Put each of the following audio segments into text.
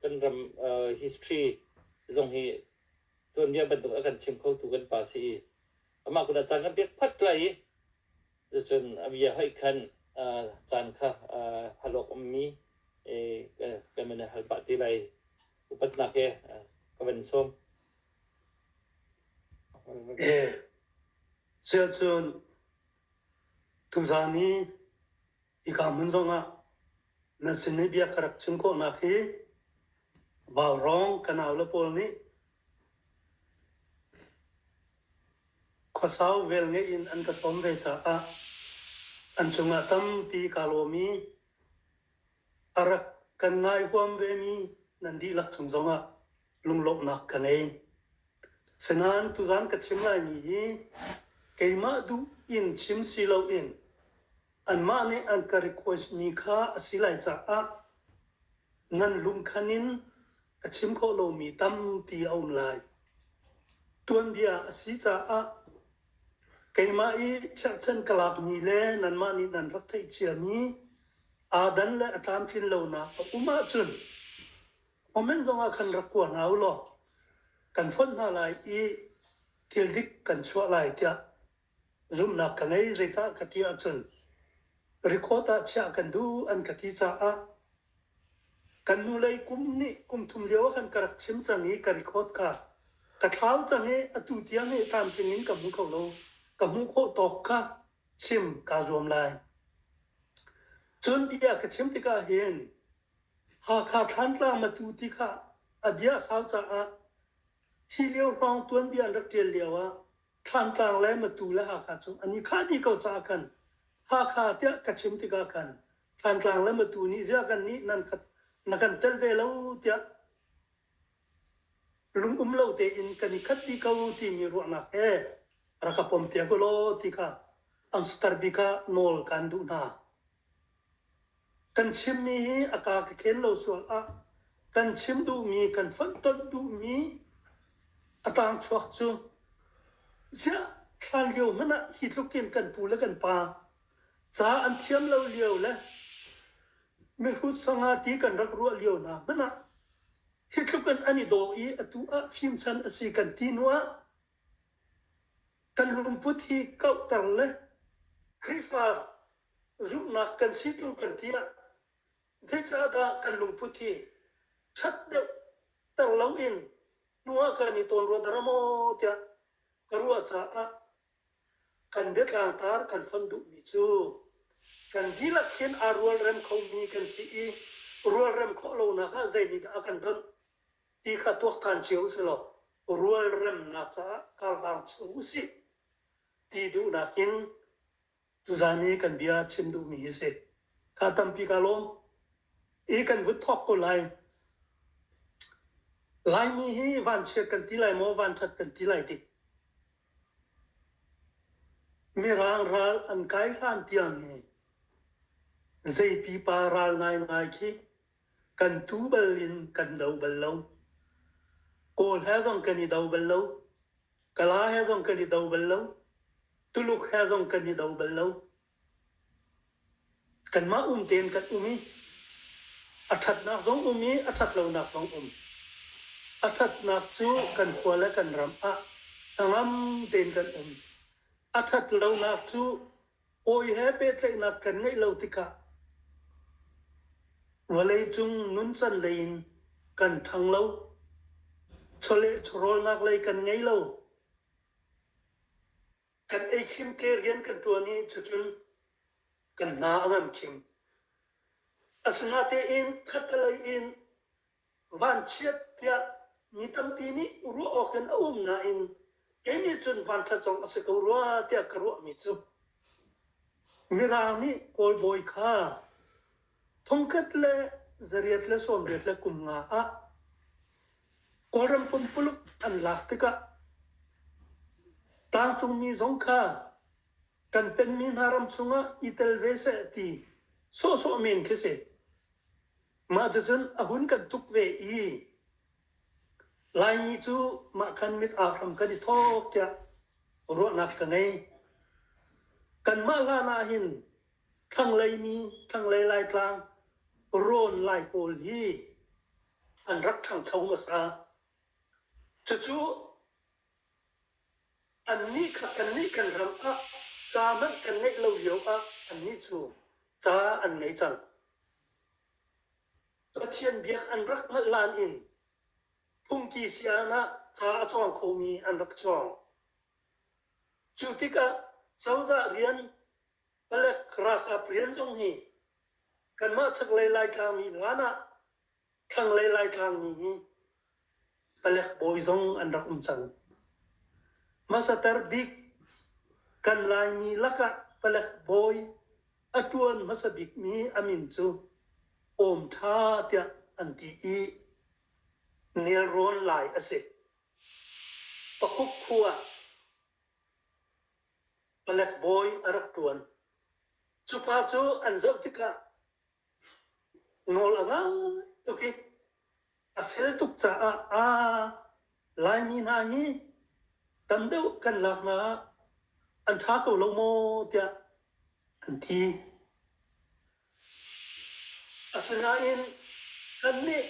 Kan ram uh, history zong hi tuanbia bantuk a kan chim khotu kan pa si i amah kut ah caan kan pek phot lai i cucun a bia hoih khan uh, caan kha uh, halawk ummi eh, kan man hal pah ti lai. Upatnak he uh, ka van sawm. Chirchun tuzani Hika hmun zongah nan sin i bia ka rak chim khawhnak hi Vaurong kanau le pawl nih khuasau velngeih in an ka sawm ve caah an cungah tampi kaa lawm i a rak kan ngai huam vemi nan dihlak cung zongah lunglawmhnak ka ngei. Sinain tuzan ka chim laimi hi keimah duh in chim si loin anmah nih an ka request mi kha a si lai caah nan lungkhan in a chim khawh lomi tampi a um lai. Tuanbia a si caah keimah i cherhchan ka lakmi le nanmah nih nan rak theih ciami aadan le a tlamtlin lonak a um ahcun Comment zongah khan rak kuah hna u law kan fonh hna lai i thil dik kan chuah lai tiah zumhnak ka ngei. Zeicah ka ti ahcun record ah chiah kan duh an ka ti caah kan hnulei kum nih kum thum lio ah khan ka rak chim cang i ka record kha ka thlau cang i atu tiang i tlamtling in ka hmu kho lo. Ka hmuh khawh tawk kha chim kaa zuam lai. Cun bia ka chim tik ahhin Hakha Thlantlang Matu ti kha a bia a sau caah hi lio hrawng tuanbia an rak ṭial lioah Thlantlang le Matu le Hakha cu an i khah dih ko caah khan Hakha tiah ka chim tikah khan Thlantlang le Matu nih ziah kannih nan khat na kan tel ve lo tiah lungum lo tein kan i khat dih ko timi ruahnak he rak ka pompiak u law ti kha an sutar bik ah nawl kaan duh hna. Kan chimmi hi a kaa ka khen lo sual ah kan chim duhmi, kan fonhtonh duhmi a tlangchuak cu ziah hlan lio hmanh ah hi tluk in kan pu le kan pa ca an thiam lo lio le mihrut sangati kan rak ruah lio hna hmanh ah hi tluk in an i daw i atu ah fimchan a si kan ti hnu ah kan lungput hi kauhter le Khrihfa zumhnak kan si tluk kan ti ah zeicah dah kan lungput hi ṭhat deuh ter loin nu ah kan i tawn rua dara maw tiah ka ruah caah kan biatlartar kan fon duhmi cu kan dihlak khin aa rualrem khomi kan si i rualrem khawh lonak ah zeinihdah a kan donh ti kha tuaktan cio usilaw rualremnak caah karlar chung usih ti duhnak in Tuzaan i kan bia chim duhmi hi si. Ka tampi ka lawm. I kan vut thawk ko lai. Laimi hi vanchiat kan ti lai maw, vanthat kan ti lai ti. Mirang ral an kai hlan tianghi zei pipa ral ngaingai khi kan tu bal in kan do bal lo. Kawl he zong kan i do bal lo. Kala he zong kan i do bal lo. Tuluk he zong kan i do bal lo. Kanmah um tein kan um i a ṭhatnak zong um i a ṭhat lonak zong um. A ṭhatnak cu kan khua le kan ram ah hnangam tein kan um. A ṭhat lonak cu Awi he pehtlaihnak kan ngeih lo tikah vawleicung nuncan lei in kan ṭhang lo. Chawleh chawrawlnak lei kan ngei lo. Kan ei khim ke rian kan ṭuan i cucun kan hna a ngam khim. Asinatein khattelei in vanchiat tiah mi tampi nih ruah awk in a um nain kei nih cun vanṭha cong a si ko rua tiah ka ruahmi cu mirang nih kawl bawi kha thongkhat le zariat le sawmriat le kum nga ah kawlram pumpuluk an lak tikah tlangcungmi zong kha kan penmi hna ram chungah i tel ve seh ti sawhsawh men khi si. Mah cucun a hun kan tuk ve i Laimi cu mah kan mit aa hram kan i thawk tiah ruahnak ka ngei. Kanmah hlan ahhin thlanglei mi, thlanglei Laitlang, rawn Lai pawl hi an rak ṭhangcho hmasa. Cucu annih kha kannih kan ram ah ca hmanh kan ngeih lo lio ah annih cu ca an ngei cang. Pathian biak an rak hngalh hlan in phungki sayaan ah ca a cawng khomi an rak cawng. Cu tikah cozah rian palek ralkap rian zong hi kanmah chaklei Laitlangmi hlan ah thlanglei Laitlangmi hi palek bawi zong an rak um cang. Hmasater bik kan Laimi lakah palek bawi a ṭuan hmasa bikmi a min cu Awm Ṭha tiah an ti i nelrawn lai a si. Pakuk khu ah palek bawi a rak ṭuan. Cupa cu an zoh tikah Nawl a ngai tuk i a fel tuk caah a Laimi hna hi tam deuh kan lak hna ah an ṭha ko lo maw tiah an ti. Asinain kannih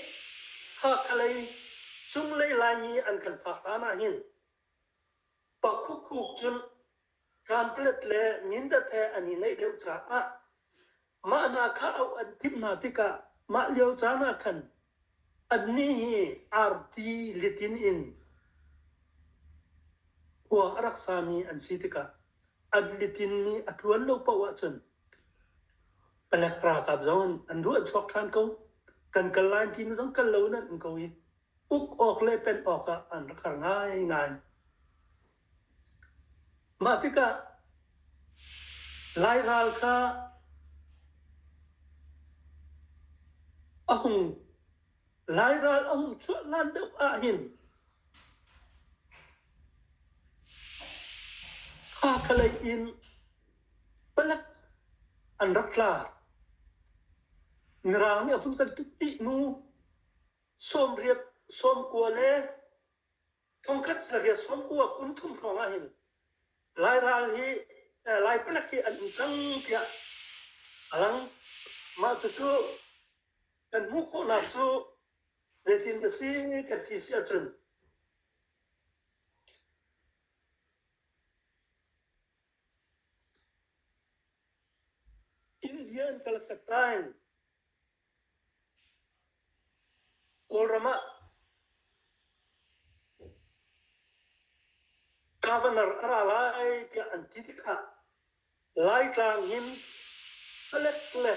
Hakhalei cunglei Laimi an kan phak hlan ahhin pakhukhuk cun Camplet le Mindat he an i naih deuh caah mah hna kha auh an timh hna tikah mah lio caan ah khan annih hi arti litin in khua a rak sami an si tikah an litin mi a tluan lo paoh ahcun palek ralkap zong an ruah chuak ṭhan ko kan kal lai ti mi zong kal lo in an um ko i uk awk le pen awk ah an rak har ngaingai Mah tikah Lai ral kha a hung Lai ral a hung chuahlan deuh ahhin Hakhalei in palek an rak tla. Mirang nih a hun kan tuk dih hnu sawmriat, sawmkua le Thongkhat sarihah Sawmkua kum thum hrawngah hin Lai ral hi Lai palek hi an um cang tiah a lang. Mah cucu kan hmuh khawhnak cu zeitin ka si kan ti si ahcun India in Calcutta in Kawlram ah governor a ra lai tiah an ti tikah Laitlang hin palek le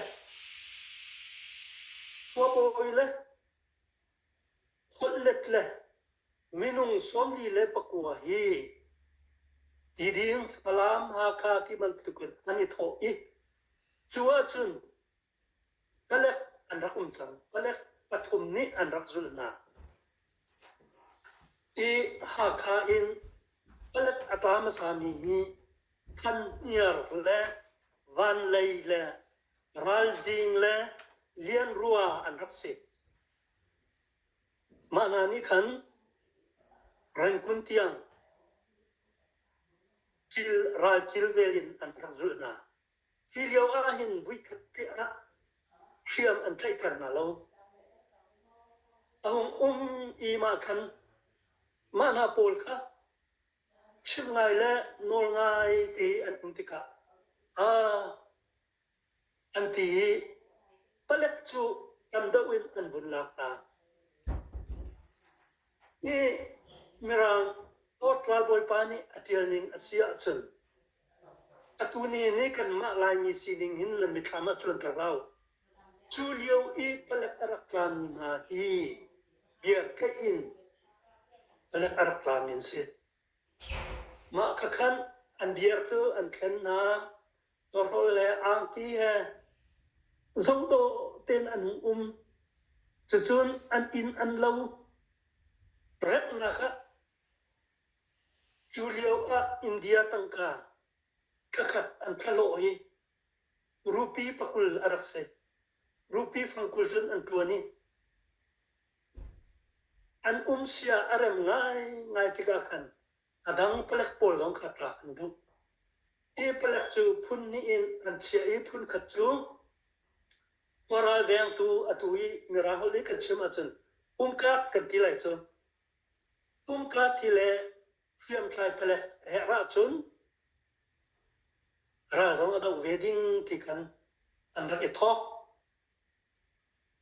khuabawi le holhlet le minung sawmli le pakua hi Tidin, Falam, Hakha ti bantukin an i thawh i cu ahcun Palek an rak um cang. Palek pathum nih an rak zulh hna. I Hakha in palek a tla hmasami hi Thanhniar le Vanlei le Ralzing le Lianrua an rak si. Mah hna nih khan Rangoon tiang kil, ral kilvel in an rak zulh hna. Hi lio ahhin vuikhat tiangah hriam an tlaihter hna lo. A hung um i mah khan mah hna pawl kha chim ngai le nawl ngai te an um tikah aa an ti i palek cu tam deuh in an vun lak hna. Hi Mirang Lord ralbawipa nih a ṭial ning a si ahcun Atu ni nih kanmah Laimi sining hin nan mitthlam ah cuanter hlah u. Cu lio i palek a rak tlami hna hi biartheih in palek a rak tlami an si. Mah khakhan an biar cu an thlen hna. Tawhrolh le angti he zongdawh tein an hung um. Cucun an inn an lo. Remhnak ah Cu lioah India tangka thlakhat an thlahlawh i rupi pakul a rak si. Rupi fangkul cun an ṭuan i an um sia a rem ngaingai tikah khan a dang palek pawl zong kha ṭah an duh. Hi palek cu phun hnih in an chiah i phun khat cu khua ralvengtu atu i Mirang holh i kan chim ahcun umkap kan ti lai cu. Tumka thi le hriamtlai pale herh ahcun ral zong a doh ve ding ti kan an rak i thawk.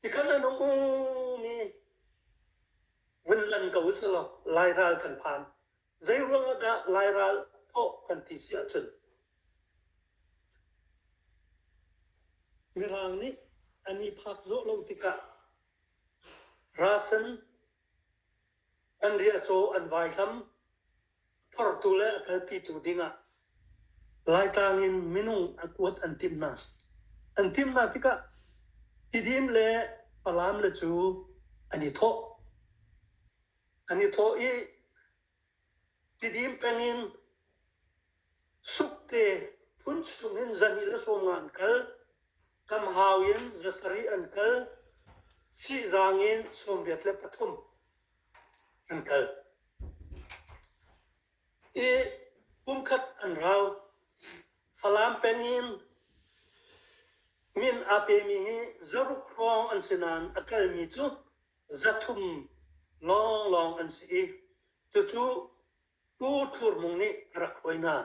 Tikan an um mi vun lan ko si law lai ral kan phan. Zei ruang ah dah lai ral thawh kan ti si ahcun Mirang nih an i phak zawh lo tikah rasen An riahcaw an vaihlam, phortu le a kalpitu dingah Laitlang in minung a kuat an timh hna. An timh hna tikah tidim le falam le cu an i thawh. An i thawh i Tidim peng in sukte phun chung in zanil a sawm nga an kal. Tam hau in za sarih an kal. Sihzang in sawmriat le pathum an kal. I kumkhat an rau. Falam peng in min aa pemi hi zaruk hrawng an si nain a kalmi cu zathum lawnglawng an si i cucu Pu Thur Mung nih a rak hruai hna.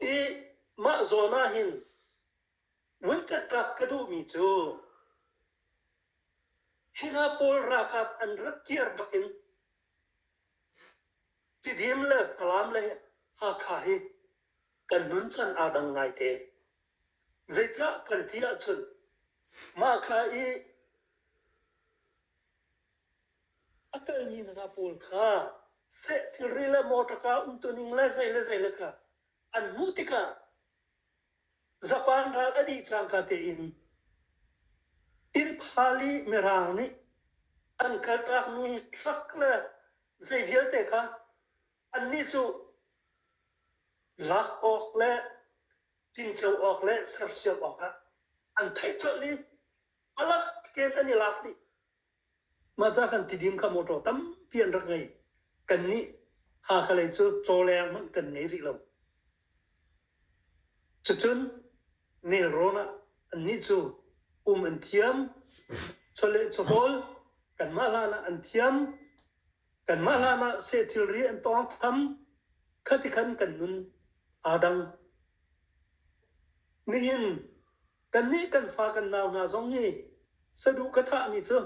I mah zawn ah hin vuikhatkak ka duhmi cu hi hna pawl ralkap an rak kir bakin Tidim le Falam le Hakha hi kan nun chan aa dang ngaite. Zeicah kan ti ahcun mah kha i a kalmi hna pawl kha seh thilri le motor kaa umtuning le zei le zei le kha an hmuh tikah Japan ral a dih cangka tein Tirphali Mirang nih an kaltakmi truck le zei vialte kha annih cu lak awk le tinco awk le sersiam awkah an theih colh i palak tein an i lak dih. Mahca kan tidim ka motor tampi an rak ngei. Kan nih hakhalei cu cawleng hmanh kan ngei rih lo. Cucun nelrawn ah annih cu um an thiam. Chawleh chawhawl kanmah hlan ah an thiam. Kanmah hlanah seh thilri an tawnghtham, khatikhan kan nun aa dang. Nihin kannih kan fa kan nau hna zong hi saduh ka thahmi cu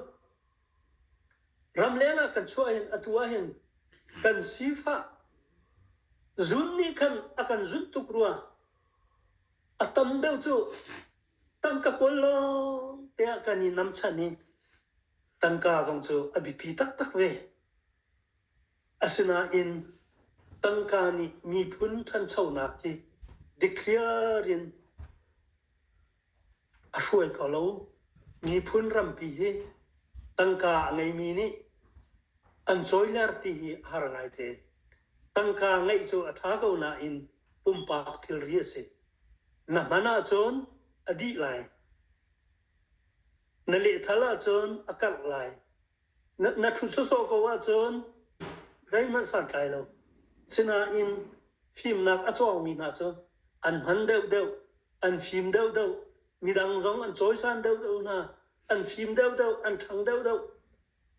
ramleng ah kan chuah hin atu ah hin kan sifah zun nih khan a kan zunh tuk rua a tam deuh cu tangka kual lawng te ah kan i nam chan hi tangka zong cu a biapi taktak ve. Asinain tangka nih miphun ṭhanchonak hi dikthliar in a hruai ko lo. Miphun rampi hi tangka a ngeimi nih an cawiler ti hi a har ngaite. Tangka ngeih cu a ṭha ko nain pumpak thilri a si. Na hman ahcun a dih lai. Na lehthal ahcun a karh lai. Na ṭhut sawsawh ko ahcun zeihmanh santlai lo. Sinain fimnak a cawngmi hna cu an hman deuhdeuh, an fim deuhdeuh, midang zong an cawisan deuhdeuh hna, an fim deuhdeuh, an ṭhang deuhdeuh,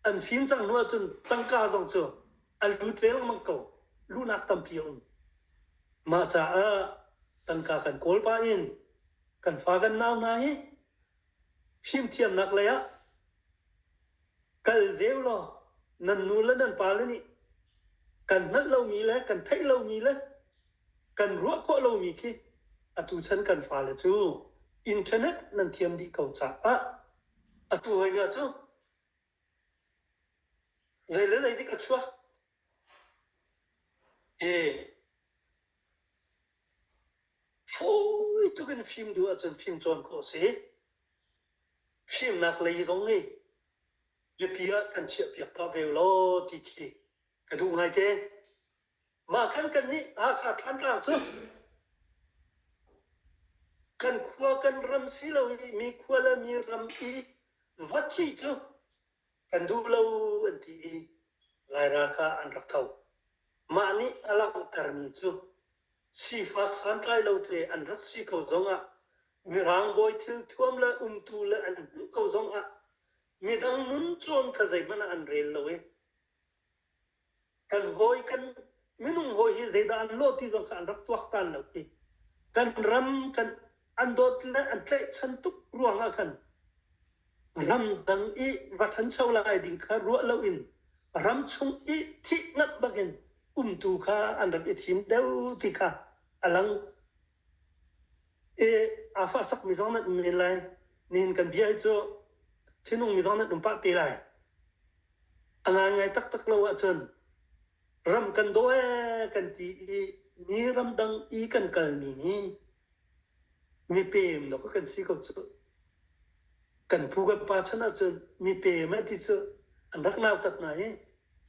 an fim cang hnu ahcun tangka zong cu a lut lengmang ko, luhnak tampi a um. Mah caah tangka kan kawl pah in kan fa kan nau hna hi fimthiamnak lei ah kal ve ulaw nan nu le nan pa le nih kan hngalh lomi le kan theih lomi le kan ruah khawh lomi khi atu chan kan fale cu internet nan thiam dih ko caah atu hoi hna cu Zei le zeidik a chuak i fawi tuk in fim duh ahcun fim cawn khawh a si. Fimnak lei zong nih mipi ah kan chiahpiak pah ve ulaw ti khi ka duh ngaite. Mah khan kannih Hakha Thantlang cu kan khua kan ram si lo i mi khua le mi ram i va thih cu kan duh lo an ti i Laira kha an rak tho. Mah nih a langhtermi cu sifak santlai lo te an rat si ko zongah Mirang bawi thil thuam le umtu le an hmuh ko zongah midang nun cawn kha zeihmanh ah an rel lo i kan hawi kan minung hawi hi zeidah an lawh ti zong kha an rak tuaktan lo i kan ram kan an dawt le an tlaihchan tuk ruangah khan ramdang i va ṭhancho lai ding kha ruah loin ram chung i thih ngat bakin umtu kha an rak i thim deuh ti kha a lang. I aa fahsakmi zong nan um men lai. Nihin kan bia hi cu thinhungmi zong nan um pah te lai. A ngaingai taktak lo ahcun ram kan daw ee kan ti i mi ramdang i kan kalmi hi mipeem dawk kan si ko cu. Kan pu kan pa chan ahcun mipeem eh ti cu an rak nautat hna i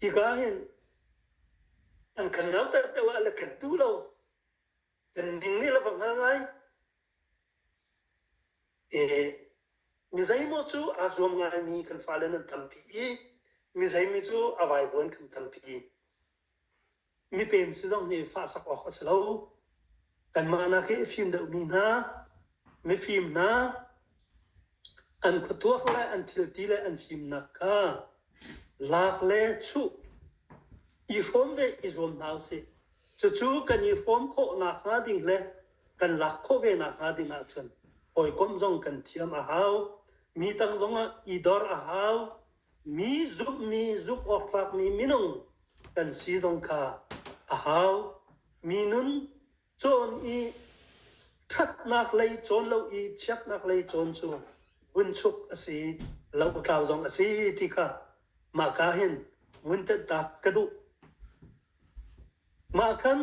hika hin an kan nautat deuh ah le kan duh lo kan ning nih a va hngal ngai e. Mizeimaw cu aa zuam ngaimi kan fale nan tampi i mizeimi cu a vaivuan kan tampi. Mipem si zong hi fahsak awk a si lo. Kanmah nak i fim deuhmi hna mifim hna an khuatuak le an thilti le an fimnak kha lak le chuh i hrawm ve i zuam hna usih cucu kan i hrawm khawh nakhnga ding le kan lak khawh ve nakhnga ding ahcun hawikom zong kan thiam a hau mi tang zongah i dor a hau mi zumhmi zumh awk tlakmi minung kan si zong kha a hau mi nun Cawn i ṭhatnak lei cawn lo i chiatnak lei cawn cu vunchuk a si, lo-a-tlau zong a si ti kha mahka hin vuntenhtak ka duh. Mah khan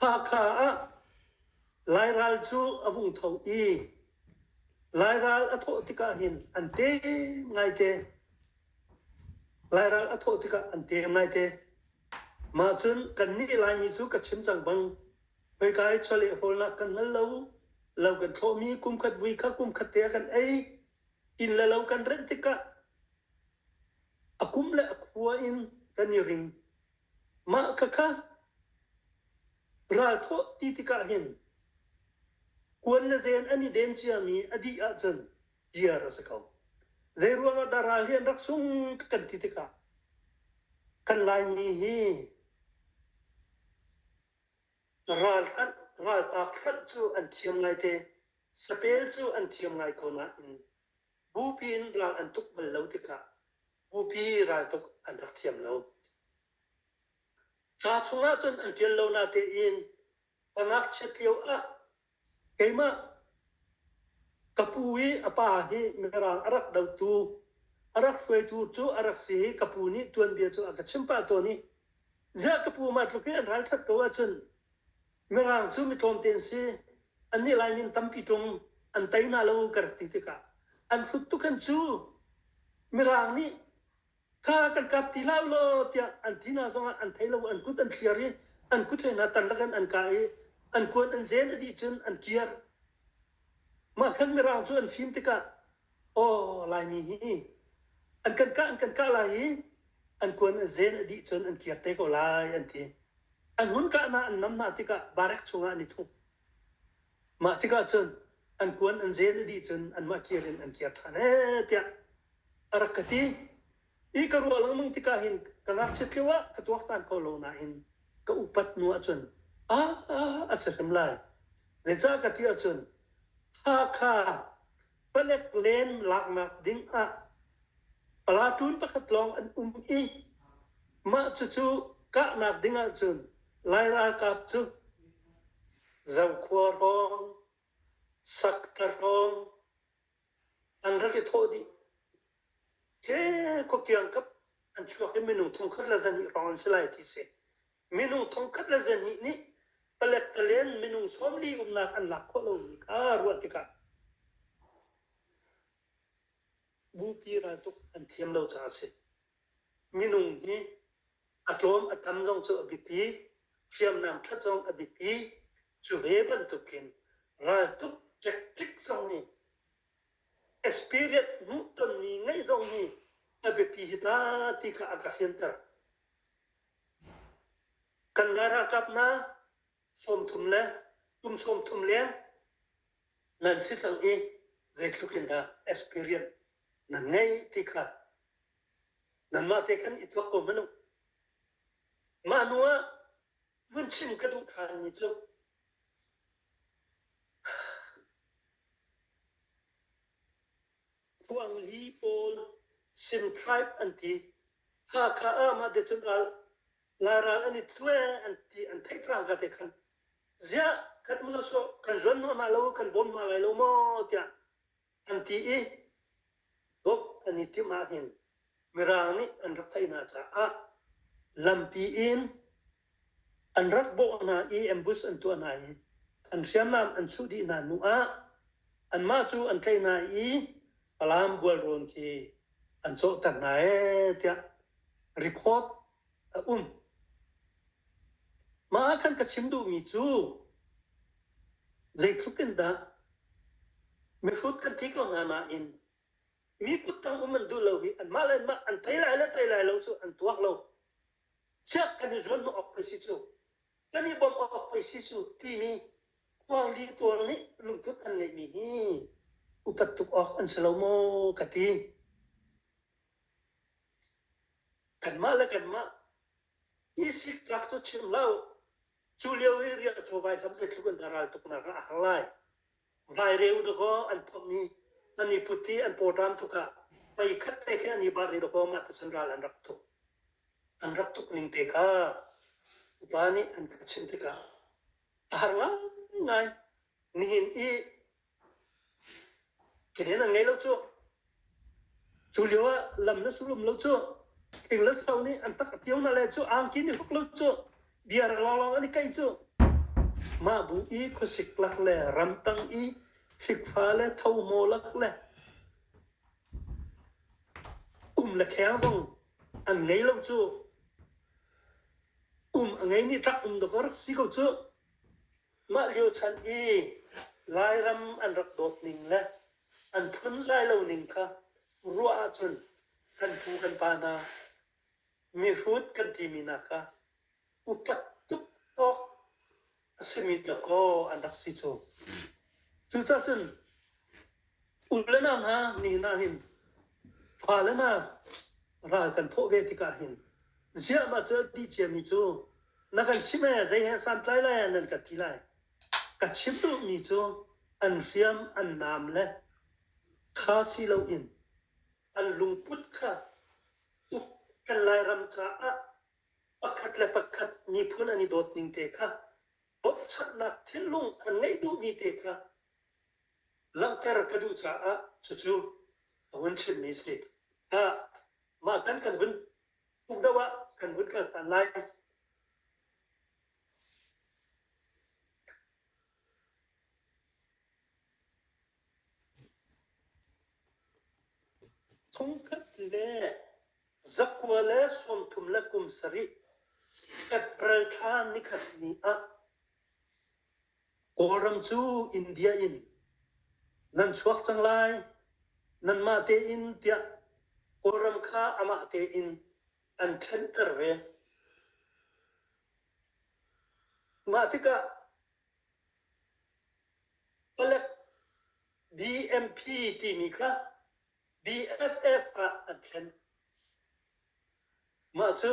Hakha ah Lairal cu a vung tho i Lairal a thawh tikah hin an tem ngaite. Lairal a thawh tikah an tem ngaite. Mah cun kannih Laimi cu ka chim cang bang, khoika i chawlehhawlnak kan hngal lo. Lo kan thlawhmi kumkhat vui kha kumkhat te ah kan ei. Inn le lo kan renh tikah a kum le a khua in kan i ring. Mah khakha ralthawh ti tikah hin kuan le zen an i den ciami a dih ahcun iar a si ko. Zeiruang ah dah ral hi an rak sung kan ti tikah kan Laimi hi ralhranh, ralpak hranh cu an thiam ngaite, sapel cu an thiam ngai ko nain bupi in ral an tuk bal lo tikah bupi raltuk an rak thiam lo. Ca chung ahcun an ṭial lo natein pa ngakchiat lio ah Keimah ka pu i a pa hi Mirang a rak dotu, a rak hruaitu cu a rak si i ka pu nih tuanbia cu a ka chimh pah tawn i ziah ka pu mah tluk hi an ralṭhat ko ahcun Mirang cu mi tlawmte an si, annih Lai min tampi ṭung an tei hna lo ka rak ti tikah an hrut tuk an cu. Mirang nih kha kan kap ti hlah law tiah an ti hna zongah an thei lo an kut an thliar i an kut he hna tan lakin an ka i an kuan an zen a dih cun an kiar mah khan mirang cu an fim tikah aw laimi hi an kan kah an kan kah lai i an kuan an zen a dih cun an kiar te ko lai an ti an hun kah hna an nam hna tikah barek chungah an i thup Mah tikah cun an kuan an zen a dih cun anmah kir in an kir ṭhan ee tiah a rak ka ti. I ka ruah lengmang tikah hin ka ngakchiat lio ah ka tuaktan ko lo nain ka upat hnu ahcun aa a si hrim lai. Zeicah ka ti ahcun Hakha palek len laknak ding ah platoon pakhat lawng an um i mah cucu kahnak ding ahcun Lai ralkap cu Zokhua hrawng, Sakta hrawng an rak i thawh dih. Ke khuakiang kap an chuak i minung thong khat le zahnih hrawng an si lai ti si. minung thongkhat le zahnih nih palet palen minung sawmli umnak an lak khawh lomi kha ruah tikah bupi raltuk an thiam lo caah a si. Minung hi a tlawm a tam zong cu a biapi, hriamnam ṭhat zong a biapi. Cu ve bantukin raltuk tactic zong nih experience hmuhtonmi ngeih zong hi a biapi hi ta ti kha a ka fianter. Kan ralralkap hna sawm thum le kum sawm thum leng nan si cang i zeitluk in dah experience nan ngei ti kha nanmah te khan i tuak ko hmanh u. Mah hnu ah vun chim ka duh thanmi cu Khuangli pawl Simhraip an ti. Hakha ah mah te cun al Laral an i tlue an ti an theih cang ka te khan. Ziah kan um lo so kan zuan mah mah lo kan bawm mah lai lo maw tiah an ti i bok an i timh ah hin Mirang nih an rak theih hna caah lampi in an rak bawh hna i ambush an tuah hna i an hriamnam an chuh dih hna hnu ah anmah cu an tlaih hna i Falam bualrawn khi an cawhter hna ee tiah record a um. Mah ah khan ka chim duhmi cu zeitluk in dah mihrut kan thi ko hna nain mi kut tang um an duh lo hi anmah le anmah an thei lai le thei lai lo cu an tuak lo chiah kan i zuam awk pei si cu kan i bawmh awk pei si cu timi khuangli tuang nih lungput an ngeihmi hi upat tuk awk an si lo maw ka ti kanmah le kanmah i sik tlak cu chim hlau cu lio i riah chawvai hlam zeitluk in ral tuknak ah a har lai vaireu dakaw an pom i an i put i an pawṭam tuk ah pei khat te khi an i bar i dakaw mah tu chan ral an rak tuk an rak tuk ning te kha upa nih an ka chim tikah a har ngai nihin i keden an ngei lo cu Cu lio ah lam le sulum lo cu thing le sau nih an tak a tio na le cu angki nih huk lo cu biar lawnglawng an i kaih cu mah bu i khuasik lak le ramtang i fikfa le thomo lak le um le kheng zong an ngei lo cu um a ngei ni tlak um dawk rak si ko cu Mah lio chan i Lairam an rak dawt ning le an phunzai lo ning kha ruah ahcun kan pu kan pa hna mihrut kan timi nakah upat tuk awk a simi dakaw an rak si cu. Cucacun U le nau hna, ni hna hin fale hna ral kan thawh ve tikah hin ziahmah cu a dih ciami cu na kan chimh lai ah zei he santlai lai ah nan kan ti lai. Ka chim duhmi cu an hriam, an nam le kha si loin an lungput kha uk kan Lairam caah pakhat le pakhat miphun an i dawt ning te kha bochannak thinlung an ngeih duhmi te kha langhter ka duh caah cucu a hun chimmi a si. Mah kan kan vun uk deuh ah kan vun kal than lai. Thongkhat le zakua le sawmthum le kum sarih April thla nikhat ni ah Kawlram cu India in nan chuak cang lai, nanmah tein tiah Kawlram kha amah tein an thenhter ve. Mah tikah palek BMP timi kha BFF ah an thlen. Mah cu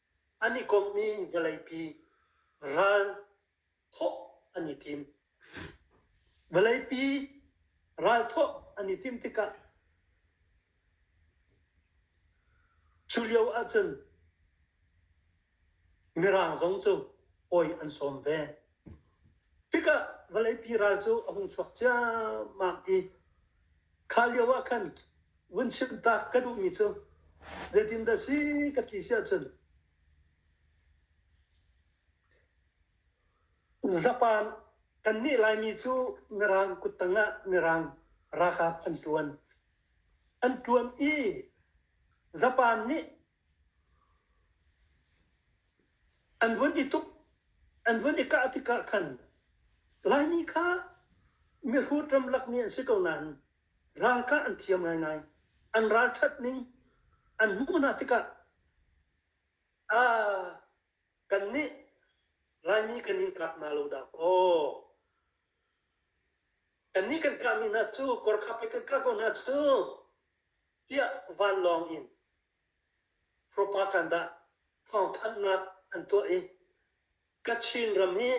an i komhmi vawleipi ral thawh an i tim. Vawleipi ral thawh an i tim tikah cu lio ahcun Mirang zong cu pawi an sawm ve. Tikah vawleipi ral cu a hung chuak ciammam i kha lio ah khan vun chimh ta ka duhmi cu zeitin dah si ka ti si ahcun zapan kan nih Laimi cu Mirang kuttang ah Mirang ralkap an ṭuan. An ṭuan i zapan nih An vun i tuk, an vun i kah tikah khan Laimi kha mihrut ramlak mi an si ko nain ralkah an thiam ngaingai. An ralṭhat ning an hmuh hna tikah aa kan nih Laimi kan in kap hna lo dah kaw kannih kan kahmi hna cu kawrkhap le kan kah ko hna cu tiah vanlawng in propaganda thawngthanhnak an tuah i Kachin ram hi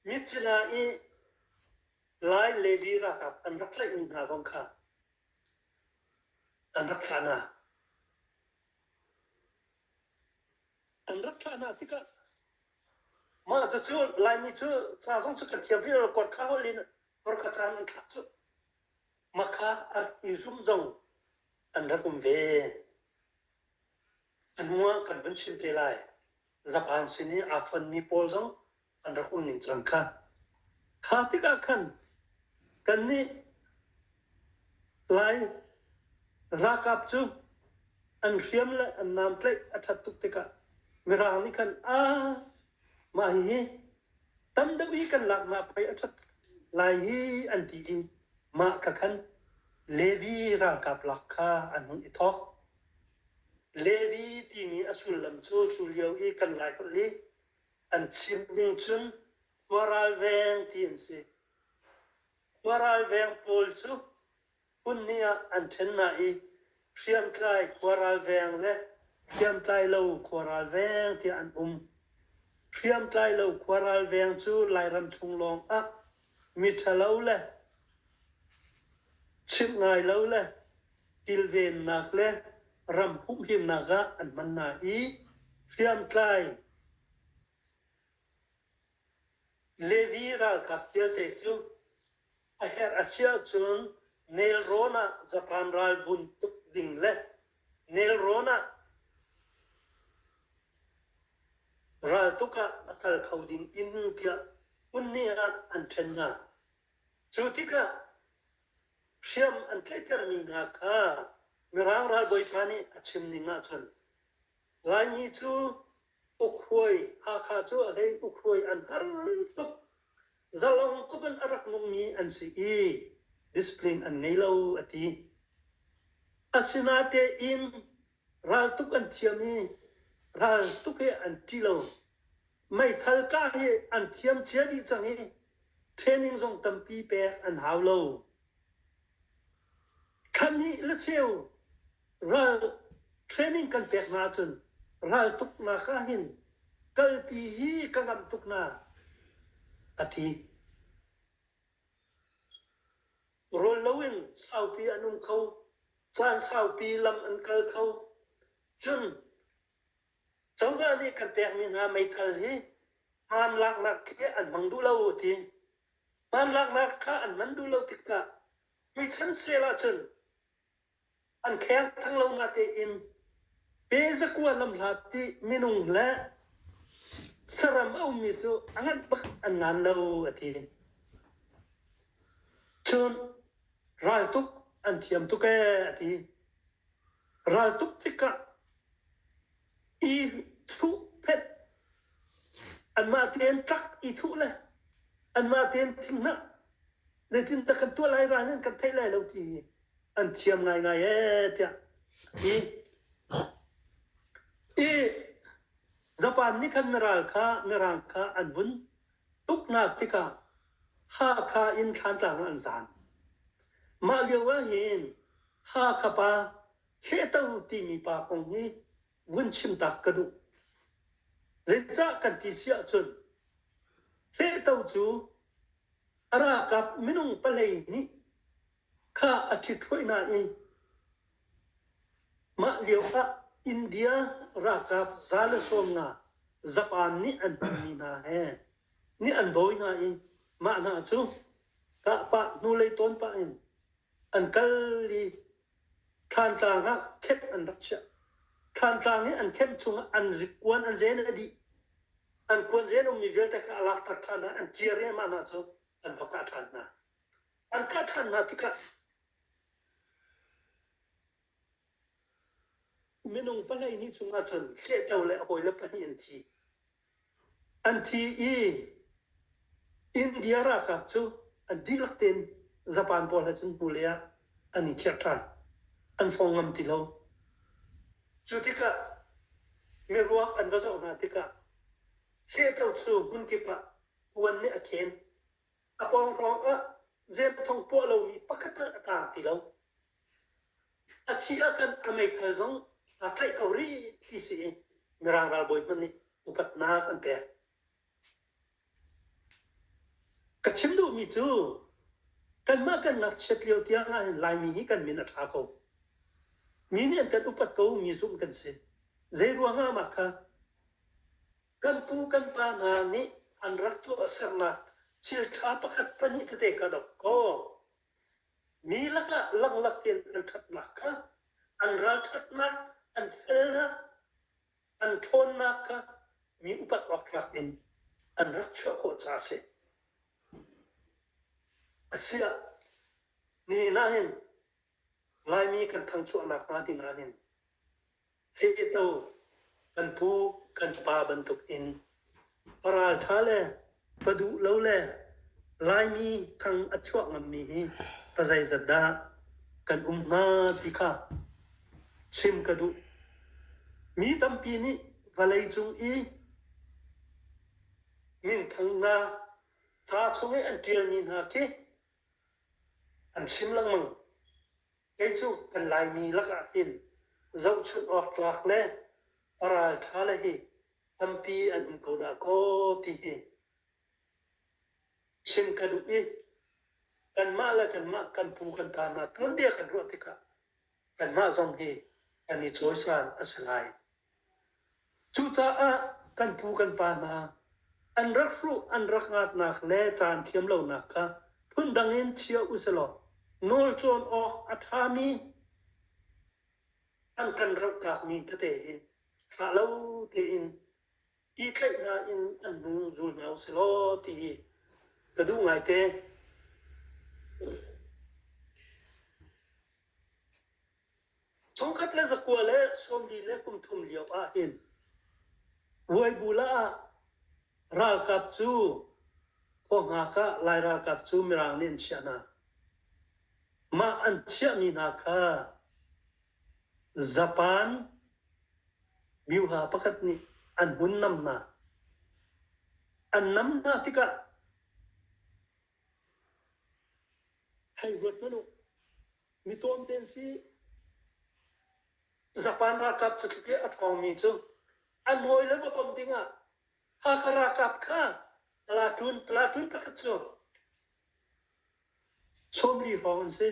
Mitsila i Lai Lady ralkap an rak tlaihmi hna zong kha an rak thlah hna. An rak thlah hna tikah mah cucu Laimi cu ca zong cu kan thiam rih lo kor kha holh in kor kha caan an thlak cu. Maka i zumh zong an rak um ve. A hnuah kan van chim te lai. Zapan sin i aa fonmi pawl zong an rak um ning cang kha. Kha tikah khan kannih Lai ralkap cu an hriam le an namtlaih a ṭhat tuk tikah Mirang nih khan a mah hihi tam deuh i kan lak hna pei a ṭhat lai hi an ti i mah ka khan Levi ralkap lak kha an hun i thawk. Levi timi a sullam cu cu lio i kan lai holh i an chim ning cun khua ralveng ti an si. Khua ralveng pawl cu Punni ah an ṭhen hna i Hriamtlai khua ralveng le Hriamtlailo khua ralveng tiah an um. Hriamtlailo khua ralveng cu Lairam chung lawng ah miṭhalo le chimh ngai lo le kilvennak le ram humhimnak ah an hman hna i hriamtlai Levi ralkap vialte cu A herh a si ahcun nelrawn ah Japan ral vun tuk ding le nelrawn ah raltuk ah a kal kho ding in tiah unnih ah an ṭhen hna. Cu tikah hriam an tlaihtermi hna kha Mirang ralbawipa nih a chim ning ahcun Laimi cu ukhuai Hakha cu a hlei ukhuai an har tuk. Zalang tuk in a rak nungmi an si i discipline an ngei lo a ti. Asinatein raltuk an thiam i raltuk he an ṭi lo. Meithal kah hi an thiam cia dih cang i training zong tampi pek an hau lo. Thlahnih le cheu ral training kan pek hna ahcun ral tuknak ahhin kalpi hi ka ngamh tuk na a ti. Rawl loin saupi an um kho. Caan saupi lam an kal kho. Cun cozah nih kan pekmi hna meithal hi hmaan laknak khi an hmang duh lo a ti. Hmaan laknak kha an hman duh lo tikah Hi chan sel ahcun an khengthang lo natein pezakua namhla ti minung le saram a ummi cu a ngat bak an ngan lo a ti. Cun raltuk an thiam tuk e a ti. Raltuk tikah i thuh phet anmah tein tlak i thuh le anmah tein thinghnah zeitindah kan tuah lai rang in kan theih lai lo ti an thiam ngaingai ee tiah i i zapan nih khan mirang kha mirang kha an vun tuknak tikah Hakha in Thlantlang an zan mah lio ah hin Hakha pa Fehter timi pa kong hi vun chim tak ka duh. Zeicah kan ti si ahcun fehto cu a rakap minung palei nih kha a ṭhithroi hna i mah lio ah India ralkap za le sawm nga Japan nih an hmanmi hna he nih an dawi hna i mah hna cu kah pah hnulei tawn pah in an kal i Thlantlang ah khenh an rak chiah. Thlantlang i an khenh chungah an kuan an zen a dih. An kuan zen a ummi vialte kha a laktak ṭhan hna, an kir riahmah hna cu an va kah ṭhan hna. An kah ṭhan hna tikah minung palei ni cungah cun hlehto le hawi le pahnih an thi. an thi i India ralkap cu an dihlak tein Japan pawl he cun hnulei ah an i khiah ṭhan. An fong ngam ti lo. Cu tikah miruak an va zoh hna tikah hleto cu hmun kip ah puan nih a khen. A pawng hrawng ah zemthong puah lomi pakhat hmanh a taang ti lo. A thih ahkhan a meithal zong aa tlaih ko rih ti si i Mirang ralbawi hmanh nih upatnak an pek. Ka chim duhmi cu kanmah kan ngakchiat lio tiang ahhin Laimi hi kan min a ṭha ko. Mi nih an kan upat ko mi zumh kan si. Zei ruangah mah kha kan pu kan pa hna nih an rak tuah sernak thil ṭha pakhat pahnih tete ka dok kaw Mi lakah langlak tein an ṭhatnak kha, an ralṭhatnak, an felnak, an ṭhawnnak kha mi upat awktlak in an rak chuah khawh caah a si. Asiah, nihin ah hin Laimi kan thangchuahnak hnga ti nakin Cehto kan pu kan pa bantuk in pa raltha le pa duh lo le Laimi thang a chuah ngammi hi pa zeizat dah kan um hnga ti kha chim ka duh. Mi tampi nih vawlei cung i minthangnak ca chung i an ṭialmi hna khi an chim lengmang. Kei cu kan Laimi lakah hin zohchunh awk tlak le a ralṭha le hi tampi an um ko dah kaw ti hi chim ka duh i kanmah le kanmah kan pu kan pa hna tuanbia kan ruah tikah kanmah zong hi kan i cawisal a si lai. Cucaah kan pu kan pa hna an rak hruh an rak ngatnak le caan thiam lonak kha phundang in chia u silaw nawl cawn awk a ṭhami an kan rauhtlakmi tete hi ṭha lo tein i tlaihhna in an hung zul hna u silaw ti hi ka duh ngaite. Thongkhat le zakua le sawmli le kum thum lio ah hin Vuaibula ah ralkap cu khua hngak ah Lai ralkap cu Mirang nih an chiah hna. Mah an chiahmi hna kha Japan myoha pakhat nih an hun nam hna. An nam hna tikah Hei huat hmanh u, mi tuam tein si. Japan ralkap catluk i a ṭhawngmi cu an hawi le va bawmh dingah Hakha ralkap kha Platoon, Platoon pakhat cu sawmli hrawng an si.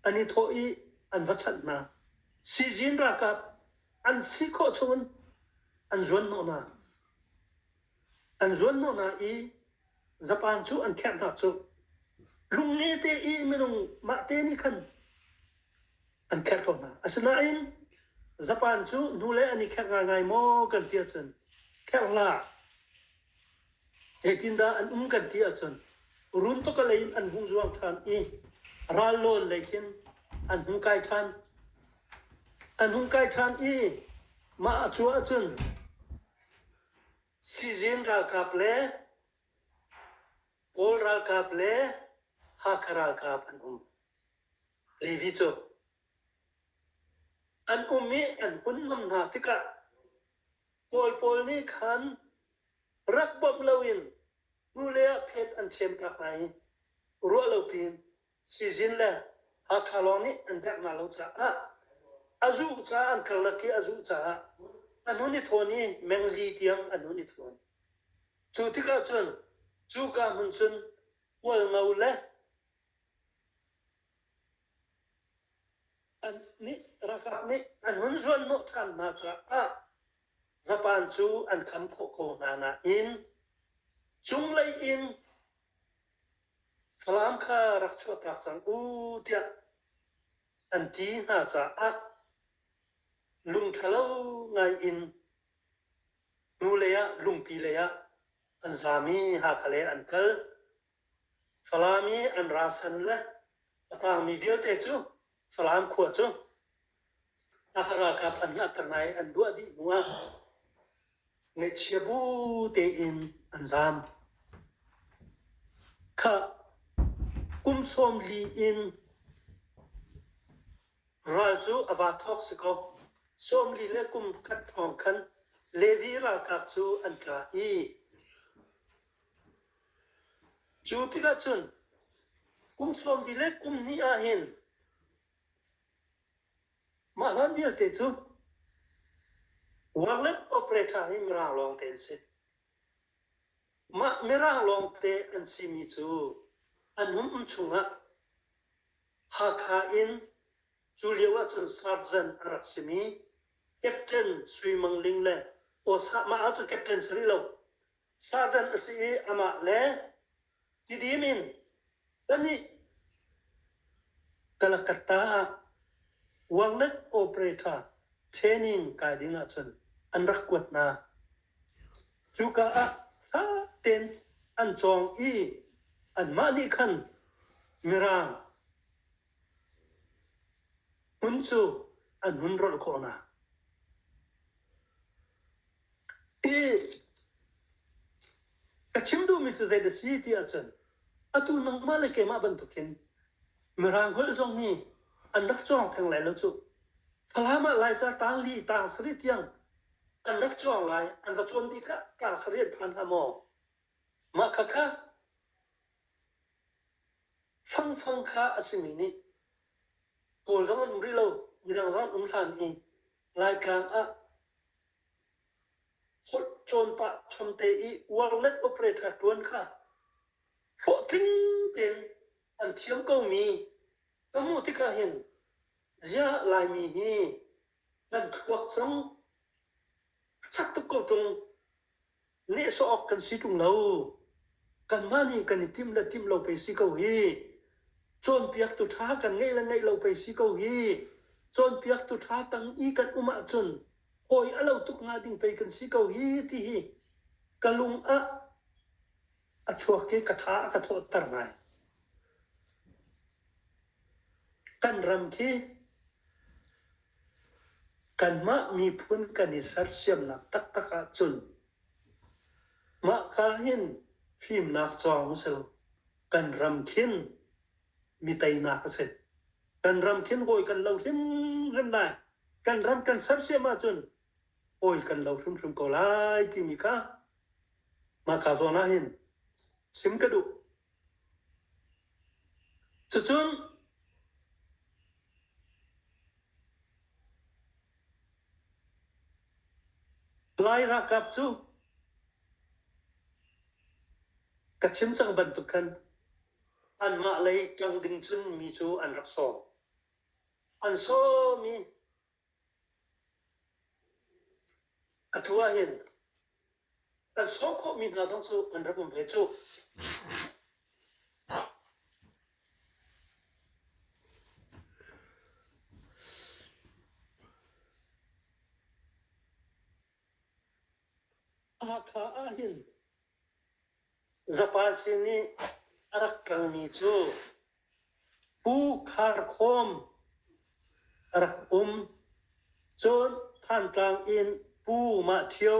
An i thawh i an va chanh hna. Sizin ralkap an si khawh chungin an zuan hnawh hna. an zuanhnawh hna i zapan cu an kherh hna cu lungnge te i minung mahte nih khan an kherh ko hna asinain zapan cu nu le an i kherh ngaingai maw kan ti ahcun kherh hlah zeitindah an um kan ti ahcun runtoka lei in an hmuh zuang ṭhan i ralnawl lei khin an hung kai ṭhan an hung kai ṭhan i mah a cu ahcun Sizin ralkap le Kawl ralkap le Hakha ralkap an um. Levi cu an um i an hun ngam hna tikah Kawl pawl nih khan rak bawmh loin nu le ah phet an chem ta hna i ruah lo piin Sizin le Hakha lawng nih an derh hna lo caah a zuh caah an karlak i a zuh caah a nun i thawn i mengli tiang a nun i thawn. Cu tikah cun cuka hmun cun Kualngo le an nih ralkap nih an hun zuanhnawh ṭhan hna caah zapan cu an kham khawh ko hna nain cunglei in Falam kha rak chuahtak cang u tiah an ti hna caah lungṭhalo ngaiin nu leiah lungpi leiah an zaam i Hakha lei an kal. Falam i an ra san le a tangmi vialte cu Falam khua cu Ralkap an hngak ka ngai an duah dih hnu ah ngaihchia bu tein an zaam. Khah kum sawm li in ral cu a va thawk si ko. Sawm li le kum khat hrawng khan Levi ralkap cu an tla i cu tikah cun kum sawm li le kum hnih ah hin Mah hlan vialte cu workland operator hi Mirang lawngte an si. Mah Mirang lawngte an simi cu an um chungah Hakha in cu lio ahcun sarjan a rak simi Captain Sui Mang Ling le mah ahcun captain si rih lo sarjan a si i amah le Tidim in panih Kalakata ah Wangnet operator training kai ding ahcun an rak kuat hna. Cuka ah ṭha tein an cawng i anmah nih khan Mirang hmun cu an hun rolh khawh hna. I a chim duhmi cu zei a si ti ahcun atu nangmah le keimah bantukin Mirang holh zong hi an rak cuang theng lai lo cu. Falam ah Laica tang li tang sarih tiang an rak cuang lai, an va cuan bik ah tang sarih an phan hnga maw? Mah khakha fangfang kha a simi nih Kawl zong an um rih lo, Mirang zong an um hlan i Raltlang ah holh cawnpah chomte i warnet operator tuan kha hlawhtling tein an thiam komi ka hmuh tikah hin ziah Laimi hi kan thluak zong a chak tuk ko ṭung. nehsawh awk kan si ṭung lo. Kanmah nih kan i timh le timh lo pei si ko hi, cawnpiaktu ṭha kan ngeih le ngeih lo pei si ko hi, cawnpiaktu ṭha tang i kan um ahcun hawi a lo tuk hnga ding pei kan si ko hi, ti hi ka lung ah a chuak i ka tha a ka thawhter ngai. Kan ram khi kanmah miphun kan i sersiamnak taktak ahcun mah ka hin fimnak cawng a si lo. Kan ram khin mi teinak a si. Kan ram khin kawi kan lo hrimhrim lai. Kan ram kan sersiam ahcun awi kan lo hrimhrim ko lai timi kha mahka zawn ah hin chim ka duh cucun lai ralkap cu ka chim cang bantuk khan anmah lei tlang ding cun mi cu an rak sawm an sawm i Atu ahhin kan sawm khawhmi hna zong cu an rak um ve cuh. Hakha ahhin Zapasi nih a rak ṭangmi cu Pu Khar Khawm a rak um. Cun Thantlang in Pu Mah Ṭhio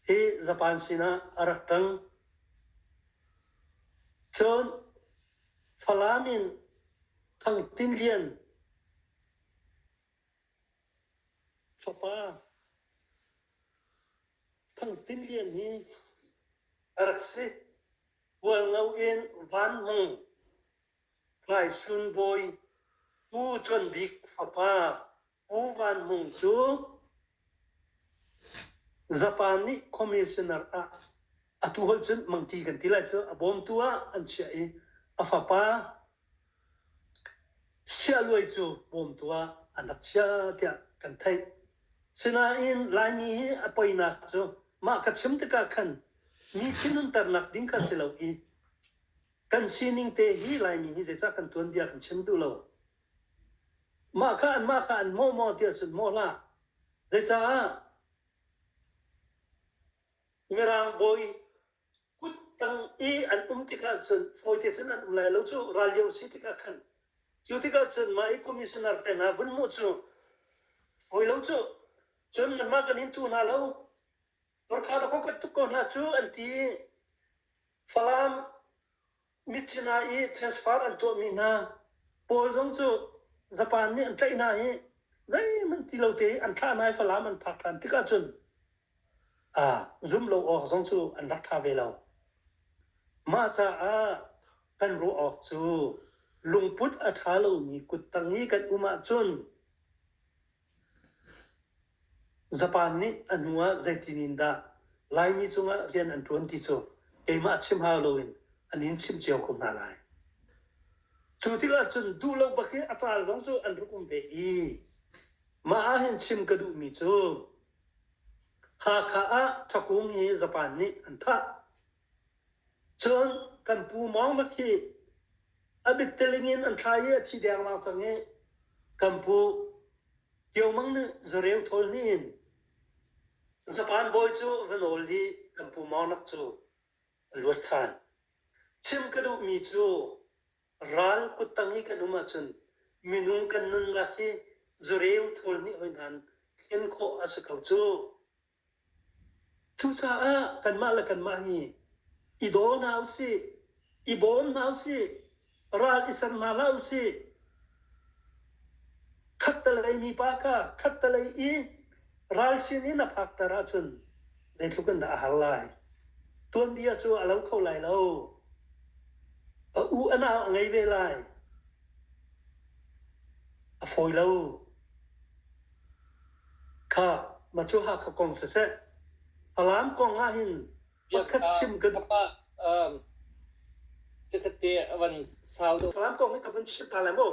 hi Zapan sinah a rak ṭang. Cun Falam in Thang Tin Lian Fapa Thang Tin Lian hi a rak si. Bualngo in Van Hmung, Tlai Sun Bawi, Pu Con Bik fapa Pu Van Hmung cu Zapan nih commissioner ah atu hol cun mangti kan ti lai cu a bawmtu ah an chiah i a fapa Sialuai cu pawmtu ah an rak chia tiah kan theih. Sinain Laimi hi a poinak cu mah ka chim tikah khan mi thinhunternak ding kha si lo i kan sining te hi Laimi hi zeicah kan tuanbia kan chim duh lo. Mah kha an mah kha an mawh maw ti ahcun mawh hlah. Zeicaah Mirang bawi kuttang i an um tikah cun fawite cun an um lai lo cu ral lio si tikah khan cu tikah cun mah i commissioner tengah vun mu cu fawi lo cu cun nanmah kan in tu hna lo Gorkha da ko tuk ko hna cu an ti Falam Mithi hna i transfer an tuahmi hna pawl zong cu Japan nih an tlaih hna i zeihmanh ti lo te an thlah hna i Falam an phak ṭhan tikah cun aa zumh lo awk zong cu an rak ṭha ve lo. Mah caah kan ruah awk cu lungput a ṭha lomi kuttang i kan um ahcun Zapan nih a hnu ah zeitin in dah Laimi cungah rian an ṭuan ti cu keimah chim hau loin an in chimh cio ko hna lai. Cu tikah cun duh lo bak i a caal zong cu an rak um ve i mah ahhin chim ka duhmi cu Hakha ah ṭhakung hi Zapan nih an thah. Cun kan pu Mawng Makhi a mitteling in an thlai i a thi dengmang cang i kan pu Kio Mang nih zareu thawl hnih in zapan bawi cu va nawl i kan pu Mawnak cu a luat ṭhan. Chim ka duhmi cu ral kuttang i kan um ahcun minung kan nunnak hi zareu thawl hnih hoi nan hlen khawh a si ko cu. Cucaah kanmah le kanmah hi i daw hna usih, i bawm hna usih, ral i ser hna hlah usih. Khattelei mipa kha khattelei i ralchin in a phakter ahcun zeitluk in dah a har lai. Tuanbia cu a lo kho lai lo. A u a nau a ngei ve lai. A fawi lo. Kha, ma cu Hakha kong siseh, Falam kong ahhin pakhat chim kan... Falam kong hi ka vun chim ta lai maw?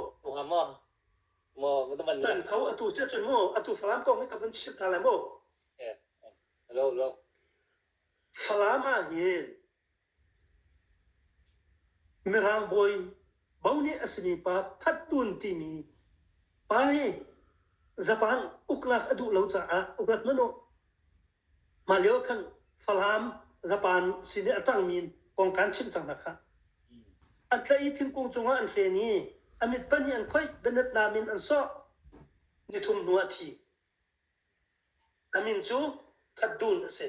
Dan ko atu cia cun mu, atu Falam kong hi ka vun chim ta lai maw? Falam ahhin Mirang bawi Bo nih a simi pa Thattun timi pa hi Japan uklak a duh lo caah urat hmanh u. Mah lio khan Falam Japan sin i a ṭangmi in kong kaan chimh cang hna kha. A tlaih i thingkung cungah an hlen i a mit pahnih an khoih, bianatnam in an sawh. Ni thum hnu ah thi. A min cu Thatdun a si.